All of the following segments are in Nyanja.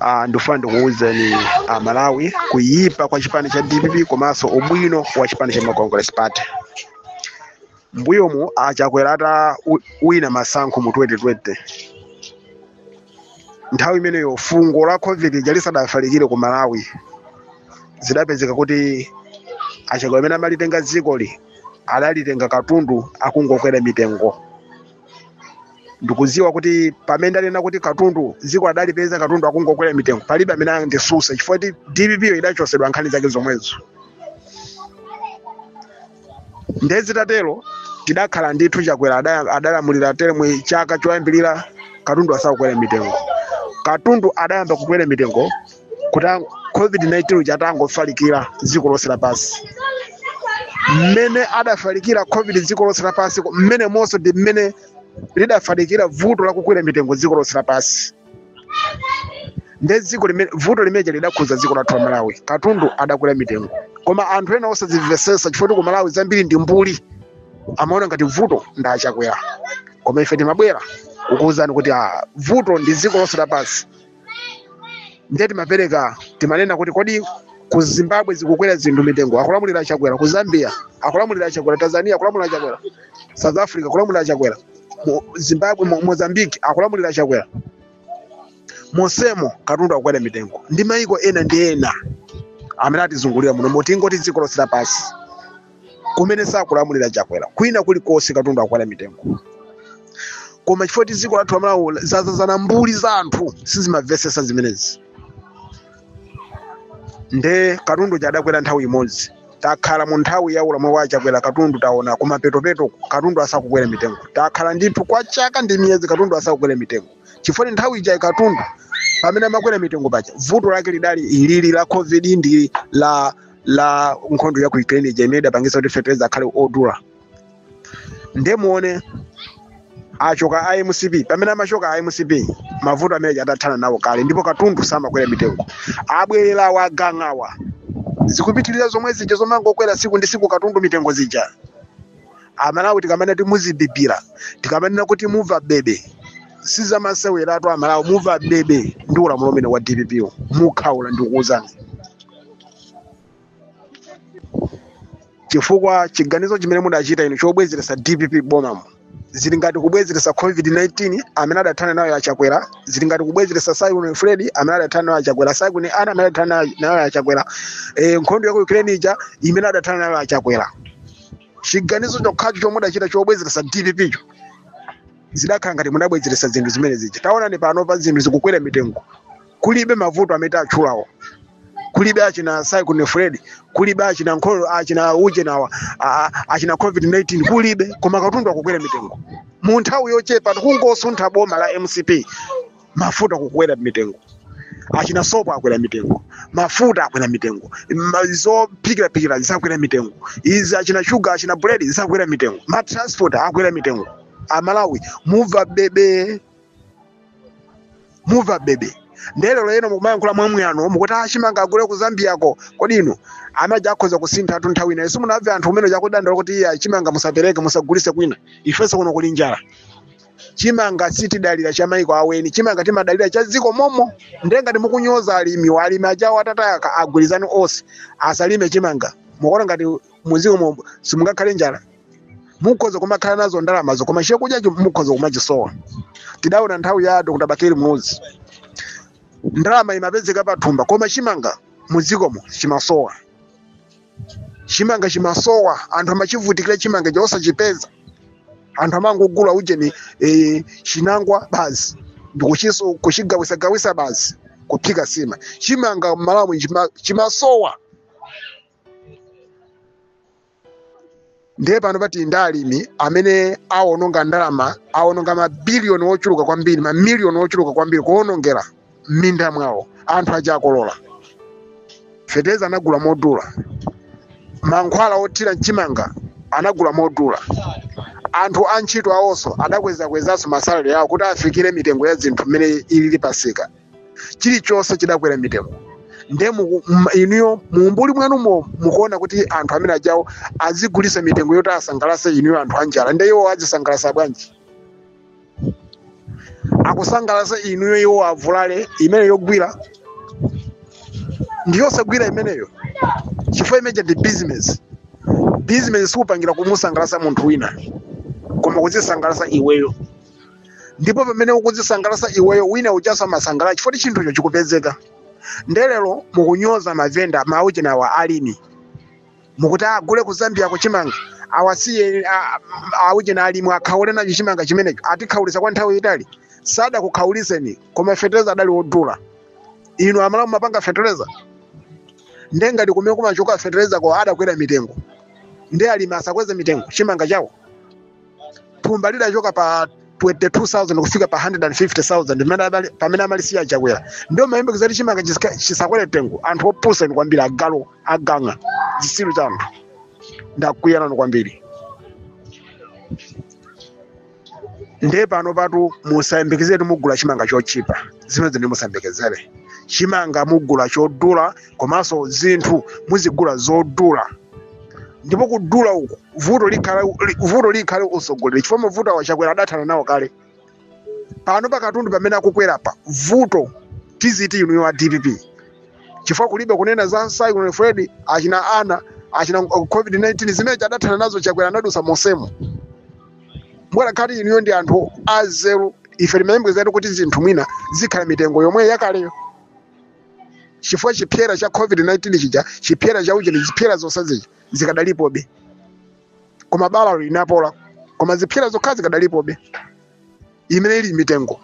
Ah, ndifuna ndikuwuzeni amalawi kuyipa kwa chipani cha dpp komanso ubwino wa chipani cha Malawi Congress party mbuyomu achakwera ata u- wina masankho mu 2020 nthawi imeneyo fungo la covid ija lisadafalikire ku malawi zidapezeka kuti achakwera amene amalitenga dzikoli adalitenga katundu akungokwera mitengo ndikudziwa kuti pamene ndikunena kuti katundu dziko adalipeza katundu akungokwera mitengo palibe amene andisuse chifukwa kuti dpp yo idachosedwa nkhani zake zomwezo ndiye zitatero tidakhala ndithu chakwera ada- adalamulira teremu chaka choyambirira katundu asakukwera mitengo katundu adayamba kukwera mitengo kuti ang- covid-19 uja atangofalikira dziko lonse lapansi mmene adafalikira covid dziko lonse lapansi ko- mmene monso ndi mmene lidafalikira vuto lakukwera mitengo dziko lonse lapansi nde dziko limene vuto limeneja lidakhuza dziko lathu la malawi katundu adakwera mitengo koma anthu ena osazimvesesa chifukwa kuti ku malawi zambiri ndi mbuli amaona ngati vuto ndi achakwera koma ife timabwera kukuwuzani kuti ah, vuto ndi dziko lonse lapansi ndiye timapereka timanena kuti kodi ku zimbabwe zikukwera zinthu mitengo akulamulira chakwera ku zambia akulamulira chakwera tanzania akulamulira chakwera south africa akulamulira chakwera Mo- zimbabwe Mo- mozambique akulamulira chakwera monsemo katundu akukwera mitengo ndi maiko ena ndi ena amene atizungulira muno mo tingoti dziko lonse lapansi kumene sakulamulira chakwera kwina kulikonse katundu akukwera mitengo koma chifukwa choti dziko lathu lamalawi zadzadzana mbuli za anthu sizimamvesesa zimenezi nde katundu uja adakwera nthawi imodzi takhala mu nthawi ya ulamuliro wa chakwera katundu taona kumapetopeto katundu asakukwera mitengo takhala ndithu kwa chaka ndi miyezi katundu asakukwera mitengo chifukwa nthawi ijayi katundu pamene amakwera mitengo paja vuto lake lidali lili la covid ndi la la nkhondo ya ku ukraine ija imene idapangisa kuti fetereza akhale odula nde muone achoka a mcp pamene amachoka a mcp mavuto amene adathana nawo kale ndipo katundu samakwera mitengo abwerera agang'awa zikupitirira zomwe zija zomangokwera siku ndi siku katundu mitengo zija amalawi tikamanena kuti muzibibira tikamanena kuti muva bebe sizamaseweratu amalawi muva bebe ndi ulamuliro umene wa dpp mukhaula ndikuwuzani chifukwa chiganizo chimene mudachita inu chobwezeretsa dpp m'bomamu zili ngati kubwezeretsa covid-19 amene adathana nayo achakwera zili ngati kubwezeretsa cyclone fred amene adathana nayo achakwera cyclone ana amene adathana nayo- nayo achakwera e, nkhondo ya ku ukraine ija imene adathana nayo achakwera chiganizo chokhacho chomwe mudachita chobwezeretsa dpp cho zidakhala ngati mudabwezeretsa zinthu zimene zija taonani pano pa zinthu zikukwera mitengo kulibe mavuto amene atchulawo kulibe achina cyclone freddy kulibe achina nkhondo achina uje nawa a- a- achina covid 19 kulibe koma katundu akukwera mitengo mu nthawi yochepa kungosuntha boma la mcp mafuta kukwera mitengo achina sopo akwera mitengo mafuta akwera mitengo ma- zophikiraphikira zisakwere mitengo izi achina shuga achina buledi zisakwere mitengo matransport akwera mitengo amalawi muva bebe muva bebe nde lero lino mukumayankhula mwamwano mukuti a chimanga agule ku zambiyako kodi inu amene uja akhoza kusintha anthu nthawi inayo simunamve anthu amene aja akudandaula kuti iya chimanga musapereke musagulise kwina ifenso kuno kuli njala chimanga sitidalira cha maiko a eni chimanga timadalira cha dziko momo ndiye ngati mukunyoza alimi wa alimi ajawo atatayaka agwirizane onse asalime chimanga mukuona ngati mudziko momo simungakhale njala mukhoza kumakhala nazo ndalamazo koma chakudya chi- mukhoza kumachisowa tidaona nthawi ya dr bakili muluzi ndalama imapezeka pathumba koma chimanga mudzikomo chimasowa chimanga chimasowa anthu amachivutikira chimanga chosachipeza anthu amangogula ujeni e, chinangwa basi ndikuchiso kuchigawisa gawisa basi kuphika sima chimanga mmalawi chima- chimasowa ndiye pano pali ndi alimi amene awononga ndalama awononga mabiliyoni ochuluka kwambiri mamiliyoni ochuluka kwambiri kuwonongera m'minda mwawo anthu aja akolola feteleza anagula modula mankhwala othira mchimanga anagula modula anthu antchito awonso adakwezakwezaso masalare awo kuti afikire mitengo ya zinthu mmene ilili pamsika chilichonse chidakwera mitengo nde muku- m- inuyo muumbuli mwanumo mukuona kuti anthu amene ajawo azigulisa mitengo yoti asangalase inuyo anthu anjala nde iwo azisangalasa bwanji akusangalasa inuyo iwo avulale imeneyo yogwira ndiyosagwira imeneyo chifukwa imene ija ndi business business supangira kumusangalasa munthu wina koma kuzisangalasa iweyo ndipo pamene ukudzisangalasa iweyo wina ujaso amasangalala chifukwa chinthucho chikupezeka nde lero mukunyoza mavenda maujeni awa alimi mukuti agule ku zambiako chimanga awasiye a- a- aujeni alimi akhaule nacho chimanga chimenecho atikhaulisa kwa nthawi yaitali sadakukhauliseni koma fetereza adali wodula inu amalawi mumapanga fetereza nde ngati kumene kumachoka feterezako adakwera mitengo nde alimi asakweze mitengo chimanga chawo thumba lidachoka pa 22,000 kufika pa 150,000 pamene amali- pamene amalisiya chakwera ndiye mumayembekeza kuti chimanga chisika- chisakwere mtengo anthu opusa inu kwambiri agalu agang'a zisilu za anthu ndakwiya nanu kwambiri ndiye panopatu musayembekeze kuti mugula chimanga chotchipa zimenezo musayembekezere chimanga mugula chodula komanso zinthu muzigula zodula ndipo kudula uku vuto likhale li- vuto likhale utsogoleri chifukwa mavuto awa chakwera adathana nawo kale pano katundu pamene akukwerapa vuto tiziti inuyo a dpp chifukwa kulibe kunena za cyclone freddy achina ana achina uh, covid-19 zimene adathana nazo chakwera anadusa monsemo mukanakhala kuti inuyo ndi anthu anzeru ife timayembekezatu kuti zinthu mwina zikhala mitengo yomwe yakaleyo chifukwa chipsera cha covid-19 chija chipsera cha ujeni zipsera zonse zija zikadalipobe koma bala linapola koma zipsera zokha zikadalipobe imene ili mitengo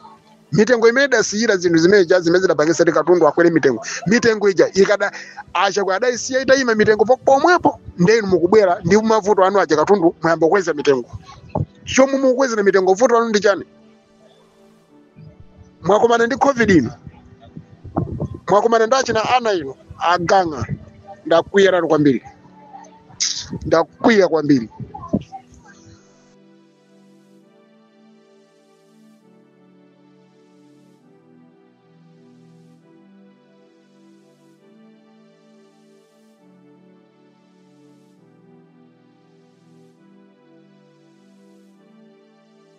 mitengo imene idasiyira zinthu zimene zija zimene zidapangisa kuti katundu akwere mitengo mitengo ija ikada a chakwera adayisiya itayima mitengo po- pomwepo ndiye inu mukubwera ndi mavuto anu aja katundu mwayamba kukweza mitengo chomwe mukukwezera mitengo vuto lanu ndi chani mwakumana ndi covid inu mwakumana ndi achina ana inu agang'a ndakwiya nanu kwambiri ndakwiya kwambiri